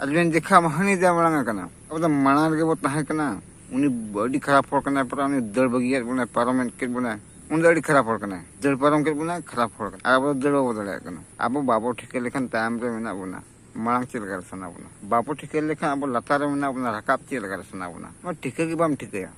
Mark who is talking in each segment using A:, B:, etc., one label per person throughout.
A: ᱟᱫᱚᱵᱮᱱ ᱫᱮᱠᱷᱟ ᱦᱟᱹᱱᱤ ᱫᱚ ᱵᱟᱝ ᱠᱟᱱᱟ ᱟᱵᱚ ᱫᱚ ᱢᱟᱲᱟᱝ ᱨᱮᱜᱮ ᱵᱚ ᱛᱟᱦᱮᱸ ᱠᱟᱱᱟ ᱩᱱᱤ ᱟᱹᱰᱤ ᱠᱷᱟᱨᱟᱯ ᱦᱚᱲ ᱠᱟᱱᱟᱭ ᱯᱟᱨᱟ ᱩᱱᱤ ᱫᱟᱹᱲ ᱵᱟᱹᱜᱤᱭᱟᱫ ᱵᱚᱱᱟᱭ ᱯᱟᱨᱚᱢ ᱠᱮᱫ ᱵᱚᱱᱟᱭ ᱩᱱᱤ ᱫᱚ ᱟᱹᱰᱤ ᱠᱷᱟᱨᱟᱯ ᱦᱚᱲ ᱠᱟᱱᱟᱭ ᱫᱟᱹᱲ ᱯᱟᱨᱚᱢ ᱠᱮᱫ ᱵᱚᱱᱟᱭ ᱠᱷᱟᱨᱟᱯ ᱦᱚᱲ ᱠᱟᱱᱟ ᱟᱵᱚ ᱫᱟᱹᱲ ᱵᱟᱵᱚ ᱫᱟᱲᱮᱭᱟᱜ ᱠᱟᱱᱟ ᱟᱵᱚ ᱵᱟᱵᱚ ᱴᱷᱤᱠᱟᱹ ᱞᱮᱠᱷᱟᱱ ᱛᱟᱭᱚᱢ ᱨᱮ ᱢᱮᱱᱟᱜ ᱵᱚᱱᱟ ᱢᱟᱲᱟᱝ ᱪᱮᱫ ᱞᱮᱠᱟᱨᱮ ᱥᱟᱱᱟ ᱵᱚᱱᱟ ᱵᱟᱵᱚ ᱴᱷᱤᱠᱟᱹ ᱞᱮᱠᱷᱟᱱ ᱟᱵᱚ ᱞᱟᱛᱟᱨ ᱨᱮ ᱢᱮᱱᱟᱜ ᱵᱚᱱᱟ ᱨᱟᱠᱟᱵ ᱪᱮᱫ ᱞᱮᱠᱟᱨᱮ ᱥᱟᱱᱟ ᱵᱚᱱᱟ ᱱᱚᱣᱟ ᱴᱷᱤᱠᱟᱹ ᱜᱮ ᱵᱟᱢ ᱴᱷᱤᱠᱟᱹᱭᱟ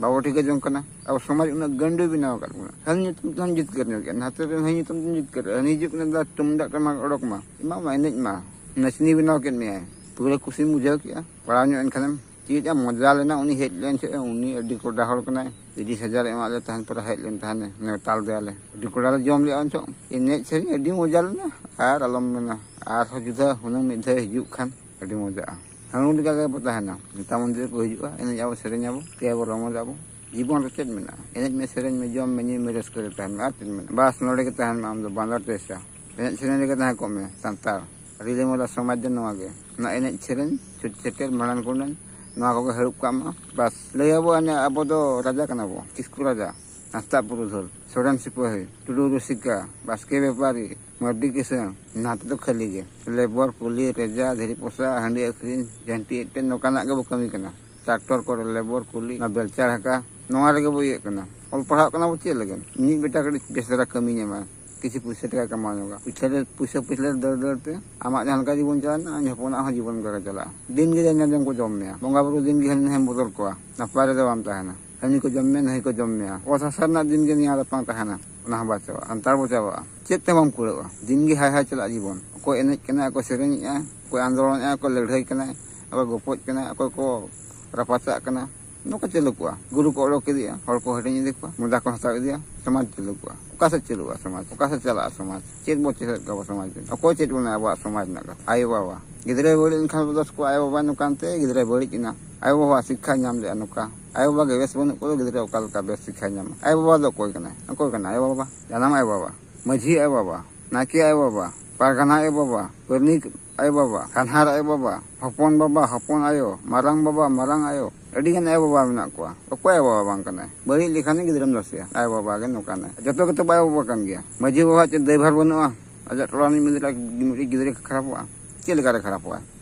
A: ᱵᱟᱵᱚ ᱴᱷᱤᱠᱟᱹ ᱡᱚᱝ ᱠᱟᱱᱟ ᱟᱵᱚ ᱥᱚᱢᱟᱡᱽ ᱩᱱᱟᱹᱜ ᱜᱟᱹᱱᱰᱟᱹ ᱵᱮᱱᱟᱣ ᱟᱠᱟᱫ ᱵᱚᱱᱟ ᱦᱟᱹᱱᱤ ᱧᱩᱛᱩᱢ ᱛᱮᱦᱚᱸ ᱡᱤᱛᱠᱟᱹᱨ ᱧᱚᱜ ᱜᱮᱭᱟ ᱱᱟᱛᱮ ᱨᱮᱱ ᱦᱟᱹᱱᱤ ᱧᱩᱛᱩᱢ ᱛᱮᱦᱚᱸ ᱡᱤᱛᱠᱟᱹᱨ ᱦᱟᱹᱱᱤ ᱦᱤᱡᱩᱜ ᱠᱟᱱᱟ ᱫᱟ ᱛᱩᱢᱫᱟᱜ ᱴᱟᱢᱟᱠ ᱚᱰᱚᱠ ᱢᱟ ᱮᱢᱟ ᱢᱟ ᱮᱱᱮᱡ ᱢᱟ ᱱᱟᱪᱱᱤ ᱵᱮᱱᱟᱣ ᱠᱮᱫ ᱢᱮᱭᱟᱭ ᱯᱩᱨᱟᱹ ᱠᱩᱥᱤᱢ ᱵᱩᱡᱷᱟᱹᱣ ᱠᱮᱫᱼᱟ ᱯᱟᱲᱟᱣ ᱧᱚᱜ ᱮᱱᱠᱷᱟᱱᱮᱢ ᱪᱮᱫ ᱮ ᱢᱚᱡᱟ ᱞᱮᱱᱟ ᱩᱱᱤ ᱦᱮᱡ ᱞᱮᱱ ᱪᱮᱫ ᱩᱱᱤ ᱟᱹᱰᱤ ᱠᱚᱰᱟ ᱦᱚᱲ ᱠᱟᱱᱟᱭ ᱛᱤᱨᱤᱥ ᱦᱟᱡᱟᱨ ᱮᱢᱟᱫ ᱞᱮ ᱛᱟᱦᱮᱱ ᱯᱚᱨᱮ ᱦᱮᱡ ᱞᱮᱱ ᱛᱟᱦᱮᱱᱮ ᱱᱮᱣᱛᱟ ᱞᱮᱫᱮᱭᱟᱞᱮ ᱟᱹᱰᱤ ᱠᱚᱰᱟ ᱞᱮ ᱡᱚᱢ ᱞᱮᱫᱼᱟ ᱚᱱᱪᱚᱜ ᱮᱱᱮᱡ ᱥᱮᱨᱮᱧ ᱟᱹᱰᱤ ᱢᱚᱡᱟ ᱞᱮᱱᱟ ᱟᱨ ᱟᱞᱚᱢ ᱢᱮᱱᱟ ᱟᱨᱦᱚᱸ ᱡᱩᱫᱟᱹ ᱦᱩᱱᱟᱹᱝ ᱢᱤᱫ ᱫᱷᱟᱣ ᱦᱤᱡᱩᱜ ᱠᱷᱟᱱ ᱟᱹᱰᱤ ᱢᱚᱡᱟᱜᱼᱟ ᱦᱟᱹᱱᱩ ᱞᱮᱠᱟ ᱜᱮᱵᱚ ᱛᱟᱦᱮᱱᱟ ᱱᱮᱛᱟ ᱢᱚᱱᱫᱤᱨ ᱠᱚ ᱦᱤᱡᱩᱜᱼᱟ ᱮᱱᱮᱡ ᱟᱵᱚ ᱥᱮᱨᱮᱧ ᱟᱵᱚ ᱛᱮ ᱟᱵᱚ ᱨᱚᱢᱚᱡᱽ ᱟᱵᱚ ᱡᱤᱵᱚᱱ ᱨᱮ ᱪᱮᱫ ᱢᱮᱱᱟᱜᱼᱟ ᱮᱱᱮᱡ ᱢᱮ ᱥᱮᱨᱮᱧ ᱢᱮ ᱡᱚᱢ ᱢᱮ ᱧᱩᱭ ᱢᱮ ᱨᱟᱹᱥᱠᱟᱹ ᱨᱮ ᱛᱟᱦᱮᱱ ᱢᱮ ᱟᱨ ᱪᱮᱫ ᱢᱮᱱᱟᱜᱼᱟ ᱵᱟᱥ ᱱᱚᱰᱮ ᱜᱮ ᱛᱟᱦᱮᱱ ᱢᱮ ᱟᱢ ᱫᱚ ᱵᱟᱸᱫᱚᱨ ᱴᱮᱥᱟ ᱮᱱᱮᱡ ᱥᱮᱨᱮᱧ ᱨᱮᱜᱮ ᱛᱟᱦᱮᱸ ᱠᱚᱜ ᱢᱮ ᱥᱟᱱᱛᱟᱲ ᱨᱤᱞᱟᱹ ᱢᱟᱞᱟ ᱥᱚᱢᱟᱡᱽ ᱫᱚ ᱱᱚᱣᱟ ᱜᱮ ᱚᱱᱟ ᱮᱱᱮᱡ ᱥᱮᱨᱮᱧ ᱪᱷᱩᱴ ᱪᱷᱮᱴᱮᱨ ᱢᱟᱲᱟᱝ ᱠᱩᱰᱟᱹᱱ ᱱᱚᱣᱟ ᱠᱚᱜᱮ ᱦᱟᱹᱨᱩᱵ ᱠᱟᱜ ᱢᱟ ᱵᱟᱥ ᱞᱟᱹᱭ ᱟᱵᱚ ᱟᱵᱚ ᱫᱚ ᱨᱟᱡᱟ ᱠᱟᱱᱟ ᱵᱚ ᱠᱤᱥᱠᱩ ᱨᱟᱡᱟ ᱦᱟᱸᱥᱫᱟᱜ ᱯᱩᱨᱩᱫᱷᱩᱞ ᱥᱚᱨᱮᱱ ᱥᱤᱯᱟᱹᱦᱤ ᱴᱩᱰᱩ ᱨᱩᱥᱤᱠᱟ ᱵᱟᱥᱠᱮ ᱵᱮᱯᱟᱨᱤ ᱢᱟᱹᱨᱰᱤ ᱠᱤᱥᱟᱹᱬ ᱱᱟᱛ ᱫᱚ ᱠᱷᱟᱹᱞᱤ ᱜᱮ ᱞᱮᱵᱚᱨ ᱠᱩᱞᱤ ᱨᱮᱡᱟ ᱫᱷᱤᱨᱤ ᱯᱚᱥᱟ ᱦᱟᱺᱰᱤ ᱟᱹᱠᱷᱨᱤᱧ ᱡᱷᱟᱹᱱᱴᱤ ᱮᱴᱮᱫ ᱱᱚᱝᱠᱟᱱᱟᱜ ᱜᱮᱵᱚ ᱠᱟᱹᱢᱤ ᱠᱟᱱᱟ ᱴᱨᱟᱠᱴᱚᱨ ᱠᱚᱨᱮ ᱞᱮᱵᱚᱨ ᱠᱩᱞᱤ ᱚᱱᱟ ᱵᱮᱞᱪᱟ ᱰᱷᱟᱠᱟ ᱱᱚᱣᱟ ᱨᱮᱜᱮ ᱵᱚ ᱤᱭᱟᱹᱜ ᱠᱟᱱᱟ ᱚᱞ ᱯᱟᱲᱦᱟᱜ ᱠᱟᱱᱟ ᱵᱚ ᱪᱮᱫ ᱞᱟᱹᱜᱤᱫ ᱢᱤᱫ ᱵᱮᱴᱟ ᱠᱟᱹᱴᱤᱡ ᱵᱮᱥ ᱫᱷᱟᱨᱟ ᱠᱟᱹᱢᱤ ᱧᱟᱢᱟᱭ ᱠᱤᱪᱷᱩ ᱯᱩᱭᱥᱟᱹ ᱴᱟᱠᱟᱭ ᱠᱟᱢᱟᱣ ᱧᱚᱜᱟ ᱯᱩᱭᱥᱟᱹ ᱨᱮ ᱯᱩᱭᱥᱟᱹ ᱯᱩᱭᱥᱟᱹ ᱨᱮ ᱫᱟᱹᱲ ᱫᱟᱹᱲ ᱛᱮ ᱟᱢᱟᱜ ᱡᱟᱦᱟᱸ ᱞᱮᱠᱟ ᱡᱤᱵᱚᱱ ᱪᱟᱞᱟᱜ ᱟᱢ ᱦᱚᱯᱚᱱᱟᱜ ᱦᱚᱸ ᱡᱤᱵᱚᱱ ᱚᱱᱠᱟ ᱜᱮ ᱪᱟᱞᱟᱜᱼᱟ ᱫᱤᱱ ᱜᱮ ᱡᱟᱦᱟᱸ ᱧᱟᱢ ᱡᱚᱢ ᱠᱚ ᱡᱚᱢ ᱢᱮᱭᱟ ᱵᱚᱸᱜᱟ ᱵᱩᱨᱩ ᱫᱤᱱ ᱜᱮ ᱦᱟᱹᱱᱤ ᱱᱟᱹᱭᱮᱢ ᱵᱚᱫᱚᱞ ᱠᱚᱣᱟ ᱱᱟᱯᱟᱭ ᱨᱮᱫᱚ ᱵᱟᱢ ᱛᱟᱦᱮᱱᱟ ᱦᱟᱹᱱᱤ ᱠᱚ ᱡᱚᱢ ᱢᱮᱭᱟ ᱱᱟᱹᱭ ᱠᱚ ᱡᱚᱢ ᱢᱮᱭᱟ ᱚᱛ ᱦᱟᱥᱟ ᱨᱮᱱᱟᱜ ᱫᱤᱱ ᱜᱮ ᱱᱤᱭᱟᱹ ᱨᱟᱯᱟᱝ ᱛᱟᱦᱮᱱᱟ ᱚᱱᱟ ᱦᱚᱸ ᱵᱟᱭ ᱪᱟᱵᱟᱜᱼᱟ ᱟᱱᱛᱟᱲ ᱵᱚ ᱪᱟᱵᱟᱜᱼᱟ ᱪᱮᱫ ᱛᱮ ᱵᱟᱢ ᱠᱩᱲᱟᱹᱜᱼᱟ ᱫᱤᱱ ᱜᱮ ᱦᱟᱭ ᱦᱟᱭ ᱪᱟᱞᱟᱜ ᱡᱤᱵᱚᱱ ᱚᱠᱚᱭ ᱮᱱᱮᱡ ᱠᱟᱱᱟᱭ ᱚᱠᱚᱭ ᱥᱮᱨᱮᱧᱮᱜᱼᱟᱭ ᱚᱠᱚᱭ ᱟᱱᱫᱳᱞᱚᱱᱮᱜᱼᱟᱭ ᱚᱠᱚᱭ ᱞᱟᱹᱲᱦᱟᱹᱭ ᱠᱟᱱᱟᱭ ᱚᱠᱚᱭ ᱜᱚᱯᱚᱡ ᱠᱟᱱᱟᱭ ᱚᱠᱚᱭ ᱠᱚ ᱨᱟᱯᱟᱪᱟᱜ ᱠᱟᱱᱟ ᱱᱚᱝᱠᱟ ᱪᱟᱹᱞᱩ ᱠᱚᱜᱼᱟ ᱜᱩᱨᱩ ᱠᱚ ᱚᱰᱚᱠ ᱤᱫᱤᱜᱼᱟ ᱦᱚᱲ ᱠᱚ ᱦᱟᱹᱴᱤᱧ ᱤᱫᱤ ᱠᱚᱣᱟ ᱢᱚᱫᱟ ᱠᱚ ᱦᱟᱛᱟᱣ ᱤᱫᱤᱭᱟ ᱥᱚᱢᱟᱡᱽ ᱪᱟᱹᱞᱩ ᱠᱚᱜᱼᱟ ᱚᱠᱟ ᱥᱮᱫ ᱪᱟᱹᱞᱩᱜᱼᱟ ᱥᱚᱢᱟᱡᱽ ᱚᱠᱟ ᱥᱮᱫ ᱪᱟᱞᱟᱜᱼᱟ ᱥᱚᱢᱟᱡᱽ ᱪᱮᱫ ᱵᱚ ᱪᱮᱫ ᱠᱟᱵᱚ ᱥᱚᱢᱟᱡᱽ ᱚᱠᱚᱭ ᱪᱮᱫ ᱵᱚᱱᱟ ᱟᱵᱚᱣᱟᱜ ᱥᱚᱢᱟᱡᱽ ᱨᱮᱱᱟᱜ ᱠᱟᱛᱷᱟ ᱟᱭᱳ ᱵᱟᱵᱟ ᱜᱤᱫᱽᱨᱟᱹᱭ ᱵᱟᱹᱲᱤᱡ ᱞᱮᱱᱠᱷᱟᱱ ᱫᱚᱥ ᱠᱚ ᱟᱭᱳ ᱵᱟᱵᱟ ᱱᱚᱝᱠᱟᱱ ᱛᱮ ᱜᱤᱫᱽᱨᱟᱹᱭ ᱵᱟᱹᱲᱤᱡ ᱮᱱᱟ ᱟᱭᱳ ᱵᱟᱵᱟ ᱥᱤᱠᱠᱷᱟ ᱧᱟᱢ ᱞᱮᱜᱼᱟ ᱱᱚᱝᱠᱟ ᱟᱭᱳᱼᱵᱟᱵᱟ ᱜᱮ ᱵᱮᱥ ᱵᱟᱹᱱᱩᱜ ᱠᱚᱫᱚ ᱜᱤᱫᱽᱨᱟᱹ ᱚᱠᱟ ᱞᱮᱠᱟ ᱵᱮᱥ ᱥᱤᱠᱠᱷᱟᱭ ᱧᱟᱢᱟ ᱟᱭᱳᱼᱵᱟᱵᱟ ᱫᱚ ᱚᱠᱚᱭ ᱠᱟᱱᱟᱭ ᱚᱠᱚᱭ ᱠᱟᱱᱟᱭ ᱟᱭᱳᱼᱵᱟᱵᱟ ᱡᱟᱱᱟᱢ ᱟᱭᱳᱼᱵᱟᱵᱟ ᱢᱟᱹᱡᱷᱤ ᱟᱭᱳᱼᱵᱟᱵᱟ ᱱᱟᱭᱠᱮ ᱟᱭᱳᱼᱵᱟᱵᱟ ᱯᱟᱨᱜᱟᱱᱟ ᱟᱭᱳᱼᱵᱟᱵᱟ ᱯᱟᱹᱨᱱᱤᱠ ᱟᱭᱳᱼᱵᱟᱵᱟ ᱠᱟᱱᱦᱟᱨ ᱟᱭᱳᱼᱵᱟᱵᱟ ᱦᱚᱯᱚᱱ ᱵᱟᱵᱟ ᱦᱚᱯᱚᱱ ᱟᱭᱳ ᱢᱟᱨᱟᱝ ᱵᱟᱵᱟ ᱢᱟᱨᱟᱝ ᱟᱭᱳ ᱟᱹᱰᱤ ᱜᱟᱱ ᱟᱭᱳᱼᱵᱟᱵᱟ ᱢᱮᱱᱟᱜ ᱠᱚᱣᱟ ᱚᱠᱚᱭ ᱟᱭᱳᱼᱵᱟᱵᱟ ᱵᱟᱝ ᱠᱟᱱᱟᱭ ᱵᱟᱹᱲᱤᱡ ᱞᱮᱠᱷᱟᱱ ᱜᱤᱫᱽᱨᱟᱹᱢ ᱫᱚᱥᱮᱭᱟ ᱟᱭᱳᱼᱵᱟᱵᱟ ᱜᱮ ᱱᱚᱝᱠᱟᱱᱟᱭ ᱡᱚᱛᱚ ᱜᱮᱛᱚ ᱟᱭᱳᱼᱵᱟᱵᱟ ᱠᱟᱱ ᱜᱮᱭᱟ ᱢᱟᱹᱡᱷᱤ ᱵᱟᱵᱟ ᱪᱮᱫ ᱫᱟᱹᱭᱵᱷᱟᱨ ᱵᱟᱹᱱᱩᱜᱼᱟ ᱟᱡᱟᱜ ᱴᱚᱞᱟ ᱨᱤᱱᱤᱡ ᱢᱤᱫᱴᱤᱡ ᱜᱤᱫᱽᱨᱟᱹ ᱠᱷᱟᱨᱟᱯᱚᱜᱼᱟ ᱪᱮᱫ ᱞᱮᱠᱟᱨᱮ ᱠᱷᱟᱨᱟᱯᱚᱜᱼᱟ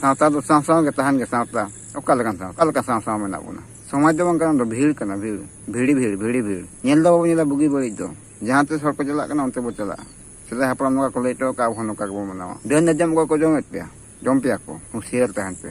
A: ᱥᱟᱶᱛᱟ ᱫᱚ ᱥᱟᱶ ᱥᱟᱶ ᱜᱮ ᱛᱟᱦᱮᱱ ᱜᱮ ᱥᱟᱶᱛᱟ ᱚᱠᱟ ᱞᱮᱠᱟᱱ ᱥᱟᱶ ᱚᱠᱟ ᱞᱮᱠᱟ ᱥᱟᱶ ᱥᱟᱶ ᱢᱮᱱᱟᱜ ᱵᱚᱱᱟ ᱥᱚᱢᱟᱡᱽ ᱫᱚ ᱵᱟᱝ ᱠᱟᱱᱟ ᱫᱚ ᱵᱷᱤᱲ ᱠᱟᱱᱟ ᱵᱷᱤᱲ ᱵᱷᱤᱲᱤ ᱵᱷᱤᱲ ᱵᱷᱤᱲᱤ ᱵᱷᱤᱲ ᱧᱮᱞ ᱫᱚ ᱵᱟᱵᱚᱱ ᱧᱮᱞᱟ ᱵᱩᱜᱤ ᱵᱟᱹᱲᱤᱡ ᱫᱚ ᱡᱟᱦᱟᱸ ᱛᱤᱥ ᱦᱚᱲ ᱠᱚ ᱪᱟᱞᱟᱜ ᱠᱟᱱᱟ ᱚᱱᱛᱮ ᱵᱚ ᱪᱟᱞᱟᱜᱼᱟ ᱥᱮᱫᱟᱭ ᱦᱟᱯᱲᱟᱢ ᱱᱚᱝᱠᱟ ᱠᱚ ᱞᱟᱹᱭ ᱦᱚᱴᱚ ᱟᱠᱟᱫ ᱟᱵᱚ ᱱᱚᱝᱠᱟ ᱜᱮᱵᱚᱱ ᱢᱟᱱᱟᱣᱟ ᱰᱟᱹᱱ ᱡᱟᱡᱟᱢ ᱠᱚ ᱡᱚᱢᱮᱫ ᱯᱮᱭᱟ ᱡᱚᱢ ᱯᱮᱭᱟ ᱠᱚ ᱦᱩᱸᱥᱤᱭᱟᱹᱨ ᱛᱟᱦᱮᱱ ᱯᱮ